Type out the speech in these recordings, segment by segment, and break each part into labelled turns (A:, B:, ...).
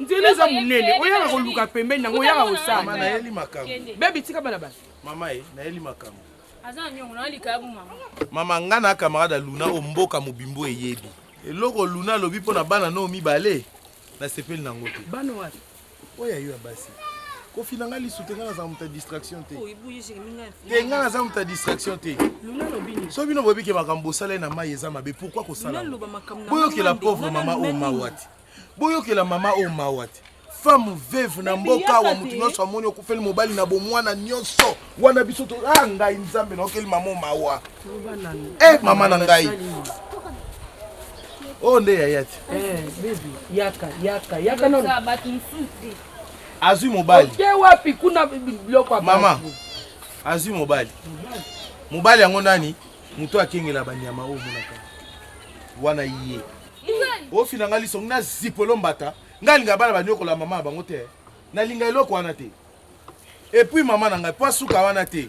A: nzela eza monene
B: oyaka koluka pembeni nango oyaka kosala nayeli makambo
C: bebi tika bana
B: bana mama ye nayeli
C: makambo
A: mama nga na
C: camarade ya luna oyo mboka mobimbo eyebi eloko luna alobi mpo na bana noo mibale nasepeli nango te bana wapi
B: oyo ayo ya
C: basi kofina ngai lisu te ngai naza moto ya distraction te te ngai naza moto ya distraction te so
B: bino boyebi ke makambo
C: bosalai na mai eza mabe pourkui kosala boyokela pauvre mama oyo mawati Boyokela mama oyo mawa te. Femme veuve na mboka awa mutu nyonso amoni okufeli mobali na bomwana nyonso wana biso to ah ngai nzambe naokeli mama oyo mawa. Eh mama na ngai. Oyo nde yaya te. Eh baby
B: yaka yaka yaka non.
C: Azui mobali. Oke wapi kuna
B: biloko mama.
C: Azui mobali. Mobali yango nani? Mutu akengela banyama oyo monaka. Wana ye. ofina ngai liso na zipo elombata ngai alinga bana banyokola mama na bango te nalinga eloko wana te epuis mama na ngai mpo asuka wana te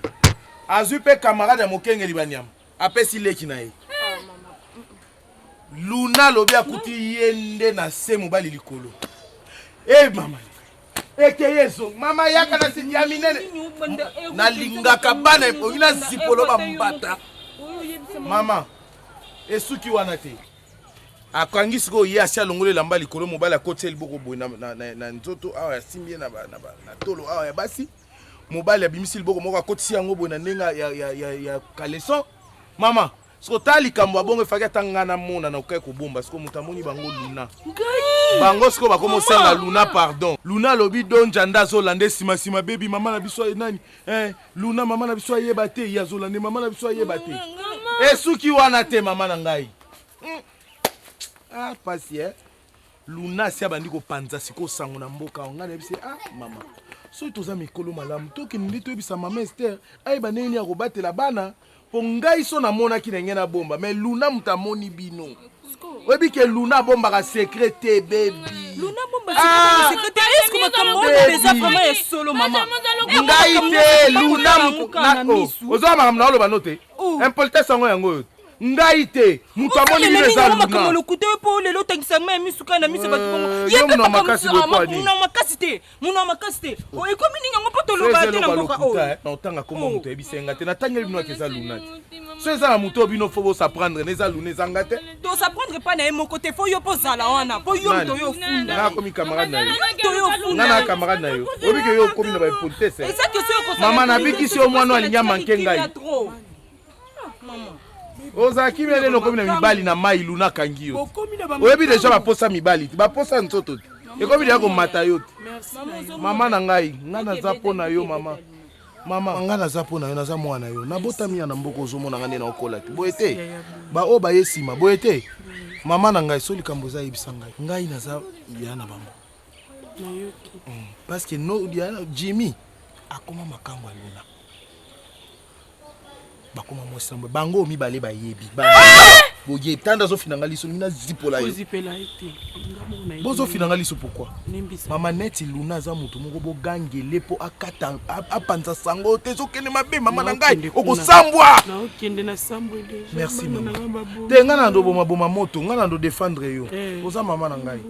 C: azwi mpe kamarade ya mokengeli banyama apesi leki na ye ah, luna alobi akuti ye nde na se mobali likolo e mama ekeyi ezongi mama yaka na sidi ya minene nalingaka bana ebongi na zipolo bambata mama esuki wana te akangi sikoyo ye asi alongoli elamba likolo mobali akoti ye liboko boye na, na, na, na nzoto awa asimbi ye na, na, na, na tolo awa ya basi mobali abimisi liboko moko akotisi yango boye na ndenge ya, ya, ya, ya caleson mama Siko ta likambo ya bongo efaki ata ngai namona na okai kobomba siko moto amoni bango luna bango siko bakoma osenga luna pardon luna alobi donja nde azolanda nsima nsima bebi mama na biso aye nani eh, luna mama na biso ayeba te ye azolande mama na biso ayeba te esuki wana te mama na ngai hmm. ah, pasi eh? luna asi abandi kopanza sikoyo sango na mboka awa ngai nayebisi ah mama soki toza mikolo malamu tokende toyebisa mama ester ayeba ndenge nini akobatela bana mpo ngai so namonaki na ngai nabomba mai luna moto amoni bino oyebi ke luna abombaka sekre te bebi
D: Ah! ngai
C: te luna ozwa makambo na oloba no te oh. impolitesse yango yango oyo ngai te moto amoni bino eza lunamakambo lokuta yo mpo lelo
D: otangisa ngai ya misu kai na miso bato bongo eh, ye mpe makasi te
C: mono ya makasi te
D: oh, ekomi ndenge yango mpo toloba te na mboka oyo eh, na otanga kombo oh. moto
C: ayebisa ye nga te natangeli bino ake eza luna te so eza na moto oyo bino fo bosaprendre na eza luna eza nga te tosaprendre mpa na ye
D: moko te fo yo mpo ozala wana mpo yo moto yo ofunda nga akomi camarade na yo
C: nga na
D: camarade na yo
C: obike yo okomi na bapolitese mama nabikisi yo mwana alingi amanke ngai oza kimi nde nokomi na mibali na mai luna kangi yo oyebi deja baposa mibali te baposa nzoto te ekomi deja komata yo te mama na ngai ngai naza mpo na yo mama mama ngai naza mpo na yo naza mwana yo nabotami ya na mboka ozomona ngai nde naokola te boye te baoyo baye nsima boye te mama na ngai so likambo eza yebisa ngai ngai naza ya na bango mm. parce que no, jimmy akoma makambo ya luna bakoma mwasi na bango mibale bayebi eh! boye tanda azofina ngai liso ngi nazipola ye bozofina ngai liso pourkui mama neti luna aza motu moko bogangele mpo akata apanza sango te ezokende mabe mama na ngai okosambwa
B: merci mama
C: te ngai na ndobomaboma moto ngai na ndodefendre yo eh. oza mama na ngai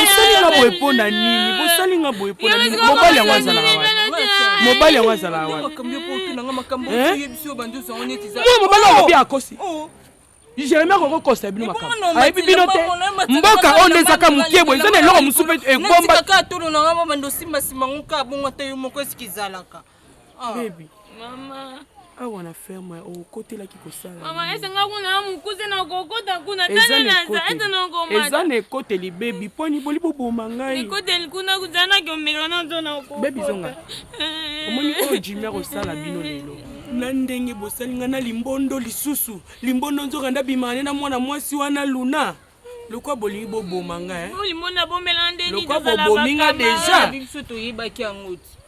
D: bosalinga boye mpo
B: na nini bosalinga boye mpo na nini mobali yango azalaka wapi mobali yango azalaka wapi mobali yango mpe akosi jeremi akoki kokosa bino makambo ayebi bino te mboka oyo nde ezaka moke boye eza na eloko mosusu mpe ekomba
D: ah. bebe
B: mama
A: awa na
B: ferme okotelaki
A: kosalaaeza na ekoteli
B: bebi mponi boli boboma
A: ngaibebi zonga eh.
B: omoni oyo jimer osala bino lelo na ndenge bosali ngai na limbondo lisusu limbondo nzoka ndabimane na mwana mwasi wana luna lokwa bolingi boboma ngai eh?
A: lokwa bobomi ngai
B: deja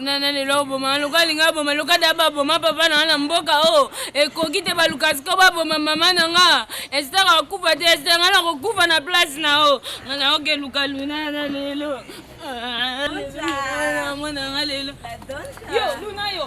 A: nana lelo oboma loka alinga aboma loka da baboma papa na nga na mboka o oh. ekoki te baluka siko baboma mama na nga esitaka kokufa te esita nga na kokufa na place na o oh. nga na oke luka luna na lelo ah, mwana nga lelo yo luna yo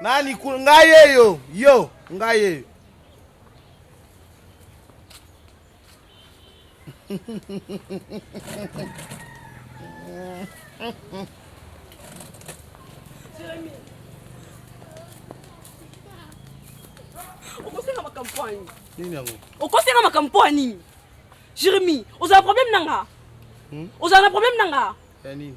C: Nani kuna? Ngai yeyo, yo, ngai yeyo. okosenga makambo mpo ya
B: nini nini yango
C: okosenga makambo mpo ya
B: nini jeremi ozala problème na nga hmm? ozala na problème na nga ya nini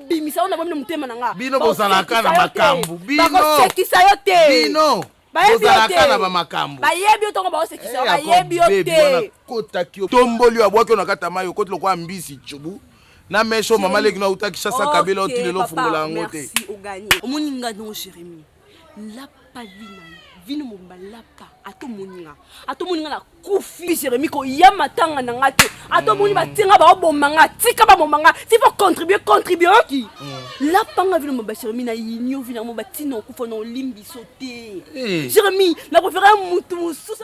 B: bimisa yango na bomi na motema na nga bino bozalaka na
C: makambo binosekisa yo te
B: bino
C: bozalaka na bamakambo bayebi yo tongo baosekisa
B: eh, bayebi yo te kotaki yo
C: tomboli yo abwaki yo na kati ya mai okoti lokola mbisi cubu na meso mama leki na uta kishasa kabela otili lofungola yango te omoni
B: nga ndongo jeremie lapa vi na yo vino mobimba lapa ata omoni nga ata omoni nga na kufi jeremi koya matanga na nga te ata omoni mm. batie nga baoboma nga tika baboma nga ti fo contribue contribue oki mm. lapa nga vino mobimba jeremi na yinio vino yango batina okufa na olimbiso te eh. jeremi na prefere motu mosusu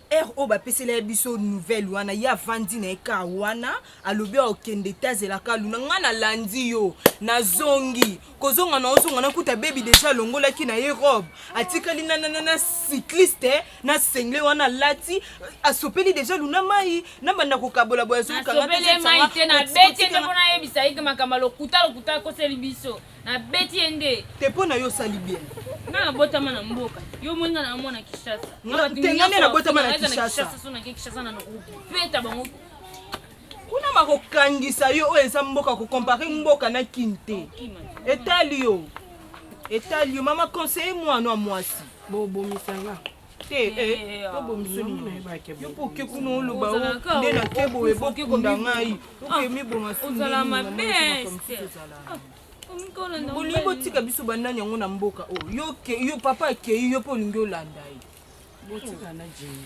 E: Heure oyo bapesela ye biso nouvelle wana ye avandi na ye kaa wana alobi akokende te azela ka luna ngai nalandi yo nazongi kozonga na ozonga nakuta bebi deja alongolaki na ye robe atikali na, na, na, na cycliste na sengle wana alati asopeli deja luna mai nabanda kokabola boye azokanga te, Nasopeli ye mai te,
A: nabeti nde mpo nayebisa ye ke makambo ya lokuta lokuta akoseli biso Na beti ye nde. Te pona yo osali
E: bien. Nga na botama
A: na mboka. Yo moni nga na mwana Kishasa. Te nga nde na
E: botama na Kishasa. Kishasa so na ke Kishasa na
A: noko. Peta bango. Kuna
E: bakokangisa yo oyo eza mboka kokompare mboka na kin te etali yo etali yo mama conseille mwana mwasi bobomisa nga
B: Eh, eh, eh,
E: ah, obo misoni na ye bake yo mpo oke kuna oloba o nde na kebo eboki kunda ngai oke miboma ozala mabe bolingi botika biso banani yango na mboka oyo yo papa akei yo mpo olingi olanda ye botika na
B: jei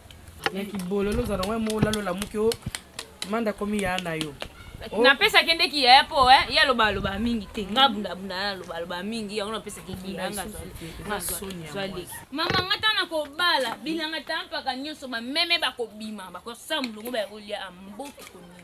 B: na kibololo ozala ngo moko lalo lamuki o manda komi ya na yo oh. napesaki nde
A: kiyaya mpo eh, ye aloba aloba mingi te nga bundabunda na aloba aloba mingi yango napesaki kiyanga mama nga ntango nakobala bilanga ta mpaka nyonso bameme bakobima bakosa molongo bayakolia amboki konia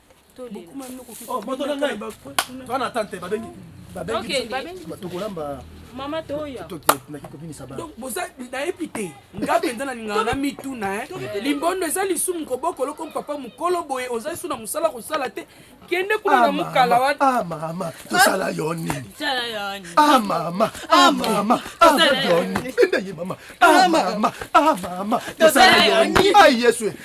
A: moto
C: na ngai toa na tante babengi
E: tokolamba
C: mama toya
E: totinaki kobimisa bana donc
B: boza nayebi te nga mpenza nalingaka na mituna eh. limbondo eza lisumu kobokolo ko papa mokolo boye oza su na mosala kosala te kende kuna na ah, mokala wana ah, mama tosala
C: yo nini ah,
D: mama mama tosala yo nini mama mama mama tosala yo nini yesu eh.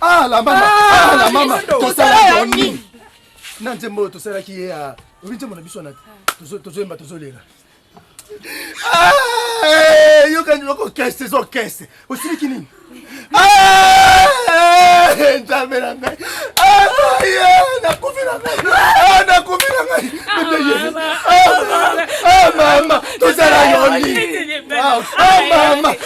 C: Ah la mama, ah, ah la mama, tosala nini? Na nzembo tosalaki ye ya obi nzembo na biso na tozoyemba tozolela. Ah, eh, yoka ndio ko kese zo kese. Osiliki nini? Ah, eh, nzambe na ngai. Ah, nakufi na ngai. Ah, nakufi na ngai. Ah, mama, tosala yo nini? Ah, mama.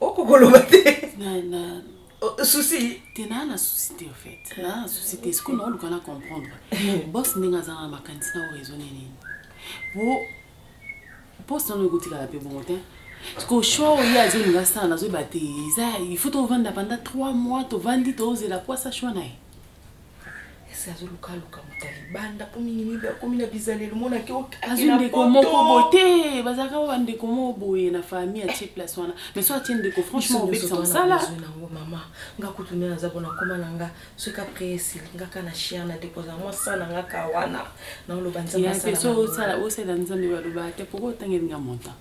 E: oko koloba te souci te naa na
F: souci te ofait naa na souci te sikoyo naoluka na comprendre bos ndenge aza na makanisi na oraisone nini po poste wana ekotikala mpe bongo te sikoyo sho ye azolinga asala nazoyeba te eza il faut tovanda panda 3 mois tovandi tozela po asa shwa na ye
E: esi azoluka luka moto ya libanda mpo mingi mingi akomi na bizaleli omonaki azwi ndeko moko
F: boye te bazalaka ba bandeko moko boye na famille atie place wana mais so atie ndeko franchement obebisa mosala nango mama nga
E: kutu nde naza mpona koma na nga soki apres esili nga ka na chier na deposa mwa sa na nga ka wana naoloba nzambe
F: osala nzambe baloba te poko otangelinga montant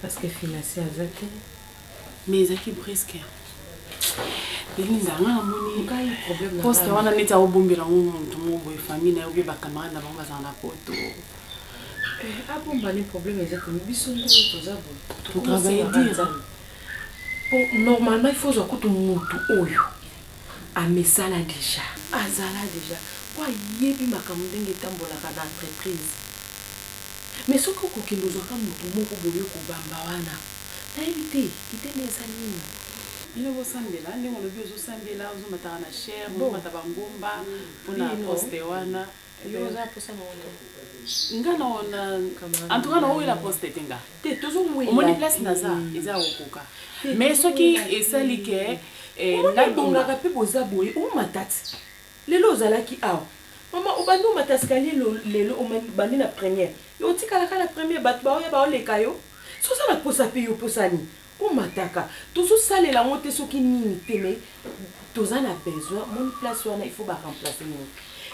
F: Parce que
E: financier aza te mais
F: ezalaki brusque Belinda nga na moni poste wana neti ako bombela ngo mutu moko boye famille na yo pe ba camarade na bango bazala na poto eh,
E: abomba ni problème eza te biso nde toza boye to travailler
F: dire po
E: normalement il faut zwa kutu mutu oyo Amesana dejà. Azala dejà po ayebi makambo ndenge etambolaka na entreprise. Mais soki okokende ozua ka mutu moko boye oko bamba wana. Nayebi te idee naye eza nini. Bino bo
F: sambela ndenge olobi ozo sambela ozo mataka na chaire ozo mata ba ngomba pona poste wana. Yo oza na posa
E: nango te. Nga
F: na en tout cas na wela poste te nga. Te tozo wela. Omoni
E: place naza
F: eza ya kokoka. Mais soki esali ke eh na bongaka
E: pe boza boye o matats lelo ozalaki awa maman obandi omata escalier lelo obandi na première yo otikala ka na première batu baoya bao leka yo soki oza na posa pe yo posa nini. Ko mataka tozo salela ngo te soki nini te mais toza na besoin omoni place wana il faut ba remplace mutu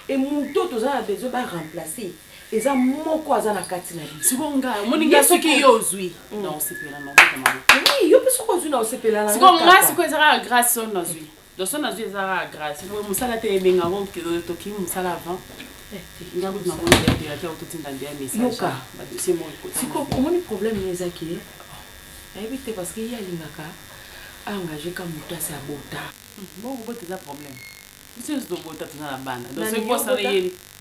E: et mutu oyo toza na besoin ba remplace eza moko aza na kati na biso sikoyo nga omoni nga soki
F: yo ozui hmm. na osepela na obeta maboko oui yo pe soki ozui
E: na osepela na sikoyo nga sikoyo eza kaka
F: grace oyo nazui Donc son nazui eza kaka grace boye musala te ebenga ko toki musala avant nga kutu namoni nde directeur kutu tinda nde ya message yoka ba dossier moko ekota siko omoni problème
E: ne eza ke ayebi te parce que ye alingaka a engage ka mutu asi abota bon kobota eza
F: problème biso nionso tobota toza na bana donc soki po asala ye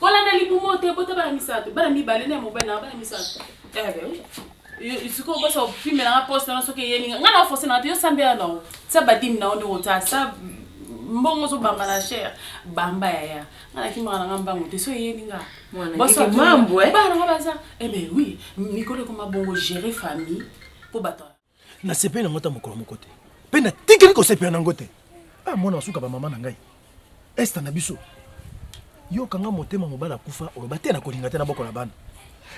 F: kolanda libumo te bota bana misato bana mibale na mobali na bana misato sikoyo bosa opimela nga poste wana soki eyelinga nga na ofosenaka te yo sambela na o sa badimi na o nde kota sa mbongo ozobamba na chere bamba yaya nga nakimaka na nga mbango te so eyeli nga Mwana Boso keke akima- mambo, eh. bana nga baza eh ben oui mikolo ekoma bongo gérer famille po bato nasepeli nango
D: ata mokolo moko te mpe natikeli kosepela nango te a mwana wasuka bamama na ngai esta na biso yoka nga motema mobali akufa oloba te nakolinga te na boko na bana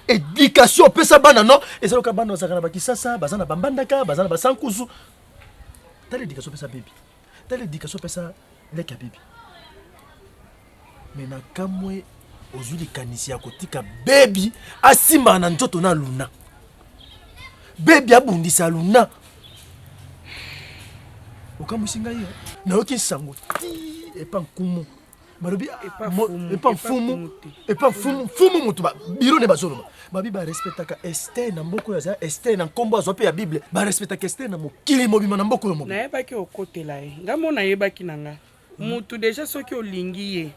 D: edikatio opesa bana no eza loka bana bazalaka na bakisasa baza na bambandaka baza na basankusu tala edikatio opesa bebi tala education opesa leki ya bibi me na kamwe ozwi likanisi ya kotika bebi asimbana na nzoto na luna bebi abundisa luna okamwisi ngai nayoki nsango ti epa nkumu balobi epa mfumu epa mfumu mfumu motu biro nde bazoloba babi barespectaka ester na mboko oyo aza ester na nkombo azwa mpe ya bible barespectaka ester na mokili mobima na mboko oyo mobima nayebaki okotela ye
B: nga mo nayebaki na nga motu deja soki olingi ye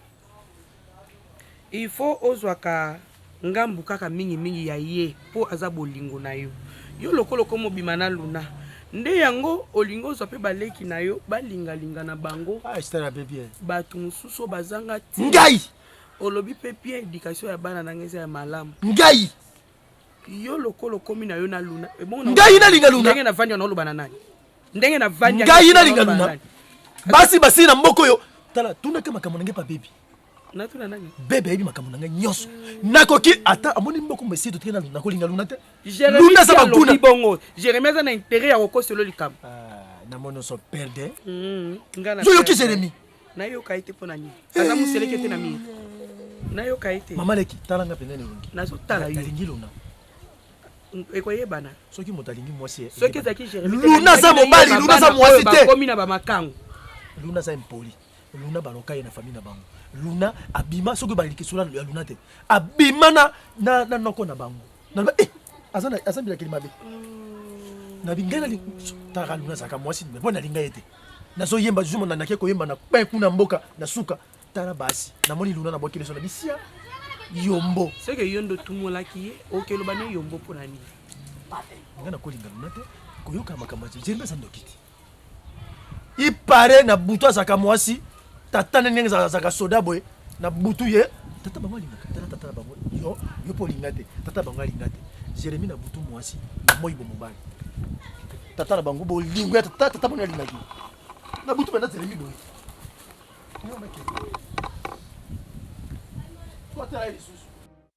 B: il faut ozwaka ngambu kaka mingi mingi ya ye po aza bolingo na yo yo lokola okoma obima na luna nde yango olingi ozwa pe ba leki na yo ba linga linga na bango Ah, Estelle abe bien.
D: batu mususu oyo
B: bazanga tina Ngai,
D: olobi pe
B: bien education ya bana na ngai eza ya malamu ngai,
D: yo
B: lokola okomi na yo na luna ebongo na- Ngai nalinga Luna.
D: ndenge navandi yango naloba na nani
B: ndenge navandi yango ngai nalinga naloba na
D: luna. nani? Basi basili na mboka oyo. Tala, tunaka makambo na ngai pa baby. natuna nani
B: bebe ayebi makambo na ngai
D: nyonso nakoki ata amoni mboko mesi totoki na nakolinga luna te luna aza baguna
B: bongo jeremi aza na intere ya kokoselo likambo ah, na mono so
D: perde hmm,
B: yoyoki jeremi
D: nayoka ye te mpo
B: na nini eh. aza moseleke te na mire nayoka ye te mama leki tala nga pene
D: elongi nazotala yolingi
B: luna ekoyebana soki moto alingi mwasi
D: eh, soki ezalaki jeremi
B: luna aza mobali
D: luna aza mwasi te komi na bamakango
B: luna aza
D: impoli Luna baloka ye na famille na bango. Luna abima soki baliki sola ya Luna te. Abima na na, na noko na bango. Na ba eh aza na aza bilakeli mabe. Mm. Na bingana li tara Luna zaka mwasi mais bon nalinga ye te. Nazo yemba zuma na nake koyemba na pe kuna mboka na suka tala basi. Namoni Luna na bokeleso na bisia yombo. Seke yondo
B: tumolaki ye okelobani yombo pona nini? Nga
D: nakolinga Luna te koyoka makambo ya Jeremie aza ndoki te. i pare na butu azalaka mwasi tata nde ndenge azalaka soda boye na butu ye tata bango alingaka tala tata na bango yo yo mpo olinga te tata bango alinga te jeremi na butu mwasi na moi bo mobali tata na bango bolingo ya tata tata bango alingaki na butu banda jeremi boye Thank you.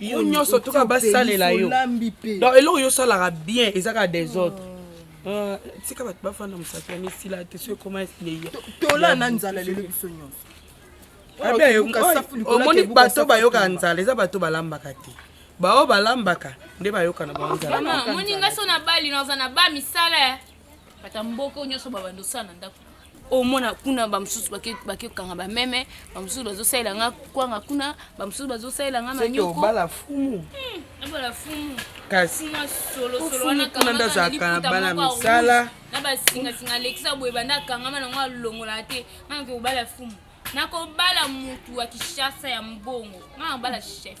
E: yo nyonso tuka basalela
B: yo donc eloko yo osalaka bien eza kaka des autres ah. ah, tika bato bafanda mosapi ya misila te so ekoma esleya tola na
E: nzala lelo biso nyonso
B: omoni bato bayokaka nzala eza bato balambaka te baoyo balambaka nde bayokana bango nzala moni ngai so na bali
A: naza na ba misala Bata mboka oyo nyonso babanda osala na ndako omona kuna bamosusu bakekanga bameme bamosusu bazosalela nga kwanga kuna bamosusu bazosalela nga manyokobala fumu
B: hmm, abala fumu
A: kasi kuna nde azalaka na
B: bana misala na basingasinga
A: alekisa boye banda akangama nango alongolaka te nga nake kobala fumu nakobala motu ya kishasa ya mbongo nga nakobala chef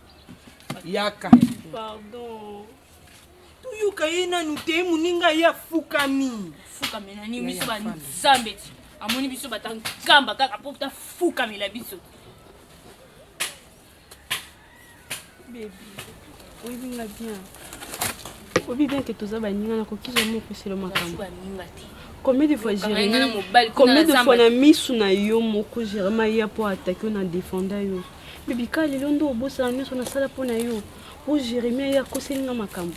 B: yaka
E: pardon toyoka ye nanu te moninga ye afukami fukamela nini
A: biso banzambe ti amoni biso bata nkamba kaka mpo tafukamela biso
E: bebi oyebi nga bien oyebi bien ke toza baninga nakoki jamai opeselo makambo baninga te combien de fois jérémi combien de fois na misu na yo moko jérémi aya mpo atake yo na défenda yo Bibi kaka lelo nde obosana nyonso nasala mpo na yo po Jeremie aye akoseli nga makambo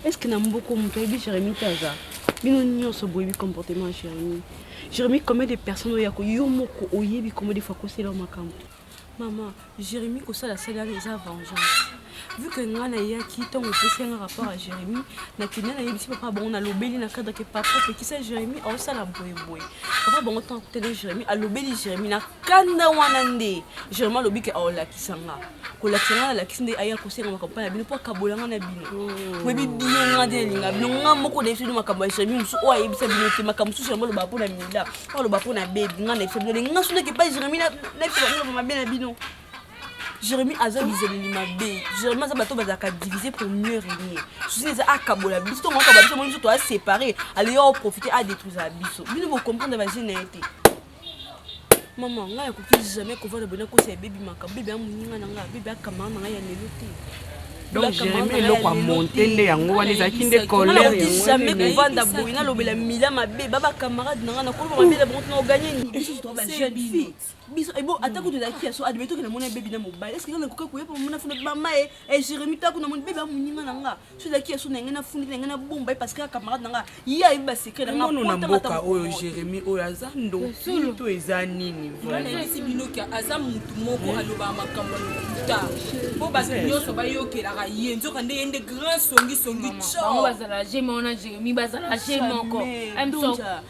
E: eske na mboko moto ayebi Jeremie te aza bino nyonso boyebi comportement ya Jeremie Jeremie combien de personnes oyo yako yo moko oyebi combien de fois akosela yo makambo mama Jeremie kosala sali wana eza vengeance vu que nga nayaki ntango opesi yanga rapport ya jérémie nakenda nayebisi papa bango nalobeli na cadre ke papa pekisa jérémie aosala boyeboye papa bango ntango akutana jérémie alobeli jérémie na kanda wana nde jérémie alobi ke aolakisa nga kolakisa nga nalakisi nde aya kosenga makambo mpa na bino mpo akabola nga na bino oyebi oh. bino nga nde nalinga bino nga moko nayebisa bino makambo ya jérémie mosusu oyo ayebisa bino te makambo mosusu yango olobaka mpo na mila oyo olobaka mpo na bebi nga nayebisa bino lenga sundaki epai jérémie nayebisa bino mabe na bino Jérémy aza bizeleli mabe Jérémy aza bato bazalaka divise pour mieux régner susi eza akabola biso ntongo akaba biso moni biso toa séparé aleya oprofite adétruisaka biso bino bocomprendre baje na ye te mama ngai akoki jamais kovanda boye nakosa ya bebi maka bebi amoninga na ngai bebi akamara na ngai ya lelo te donc
B: jérémi eloko amonte nde yango wana ezalaki nde colèreamai kovanda
E: boye nalobela mila mabe ba bacamarade na ngai nakoloba mabe na bango tinaoganye nini biso ebo eh, ata kutu ezalaki ya so admeto ke namoni bebi na mobali eske nga nakoki koya mpo mona funa bama ye eh, jeremi eh, tako namoni bebi amoninga na nga so ezalaki ya so na ngai nafundeli na ngai nabomba ye parce que camarade na nga ye ayebi basecret na ngamono na mboka oyo
B: jeremi oyo aza ndoki to eza nini nayebisi binoki
E: aza motu moko alobaka makambo ya lokuta mpo bato nyonso bayokelaka ye nzoka nde ye nde grand songisongi cobazala
A: je moko na jeremi bazala je moko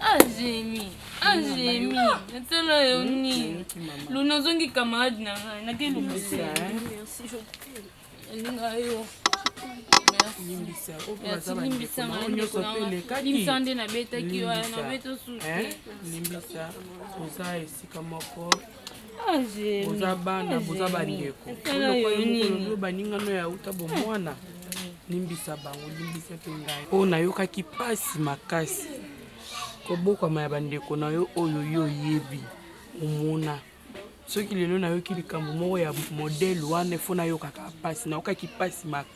A: Angemi, Angemi, nasala yo nini? Luna ozongi camarade na ngai, nake lobisa.
E: Elinga yo.
A: limbisa nde nabetaki yo nabeta susu limbisa
B: oza esika moko Ah, boza bana ah, boza bandeko lokola baningano ya uta bomwana limbisa bango limbisa mpe ngai mpo nayokaki mpasi makasi kobokwama ya bandeko na yo oyo yo oyebi omona soki lelo nayoki likambo moko ya modele wana efo nayokaka mpasi nayokaki mpasi makasi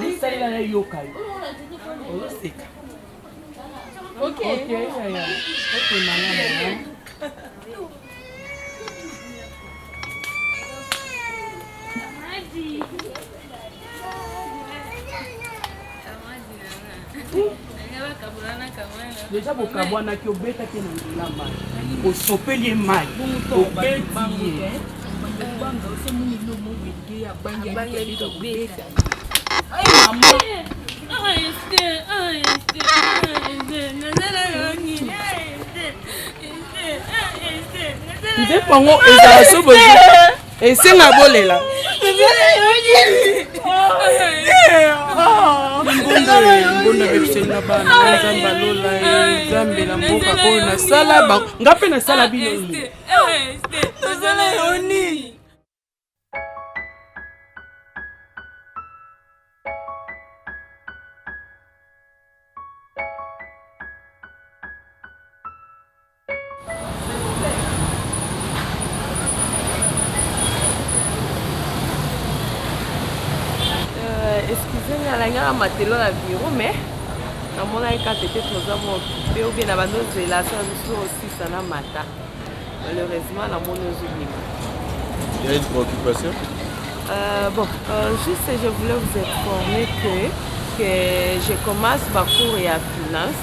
E: lisalela
B: na yoka yo ozoseka deja bokabwanaki obetaki na nzela mai osopeli ye mai obeti ye nzembo yango ezala so esenga bolela nzambe na mboka oyo nasala nga mpe nasala bino
E: Euh, excusez nga nalangaka matelo na bureau mais namonaki kaka tete toza mope obe na bando ozela so biso osisa na mata malheureusement namoni ozobima
C: Il y a une préoccupation euh, Bon, euh,
E: juste je voulais vous informer que, que je commence ma cours et à finance.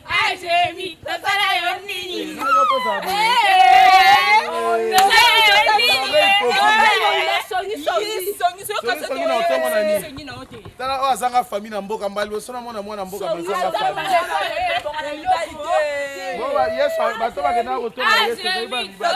C: tala oyo azanga fami na mboka mbala liboso na mona mwana mboka mazanga fami yesu bato bakendaka kotonga yesu ezali bamibali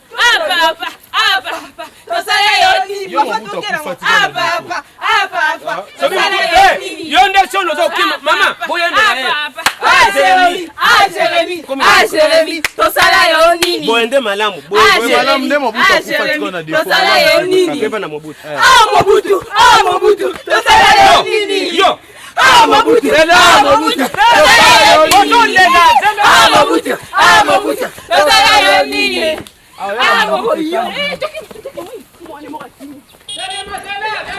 A: yo nde sono ozokima
B: mama boyendajeremi
A: tosala yo nini boye nde malamu
B: tosala yo
C: nini
B: mobutu
A: mobutu tosala yo nini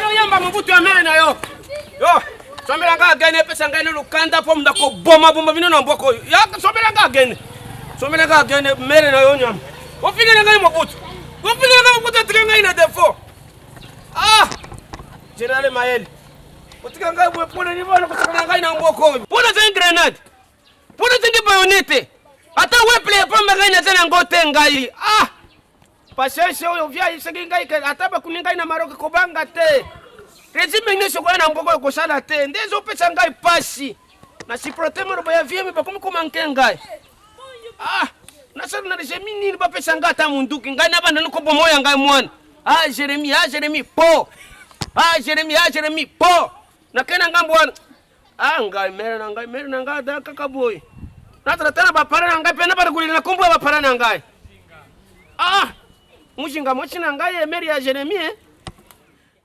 A: oyamba mobutu
B: ya mene na yo yo sombela nga agene epesa ngai ne lukanda mpo munda kobomaboma bino na mboko oyo ya sombela nga agene sombela nga agene mere na yo nyama ofingele ngai mobutu ofingele ngai mobutu atike ngai na defo ah generale mayele Otika ngai boye pona nini bana kosaka na ngai na mboka oyo. Pona azangi grenade. Pona azangi bayonete. Ata weple ya pamba ngai naza na ngo te ngai. Ah! Patience oyo via isengi ngai ke ata bakuni ngai na Maroc kobanga te. Regime nyonso koya na mboka oyo kosala te. Nde ezopesa ngai pasi. Na supporte maloba ya vieux mais bakomi koma nke ngai. Ah, na sala na regime nini ba pesa ngai ata munduki ngai na banda niko bomo ya ngai mwana. Ah Jeremy, ah Jeremy po. Ah Jeremy, ah Jeremy po. Na kena ngambo wana. Ah ngai mere na ngai, mere na ngai da kaka boy. Na tata na ba para na ngai pe na ba kulina kombo ba para na ngai. Ah! Mujinga mochi na ngai mere ya Jeremy eh.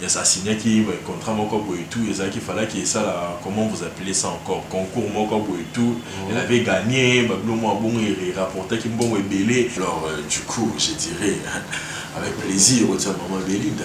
G: Yes a signaki contrat moko boye tout ezalaki falaki esala comment vous appelez ça encore concours moko boye tout elle avait gagne ba bilo mua bongo e rapportaki mbongo ebele alors du coup je dirais avec plaisir otia maman Belinda.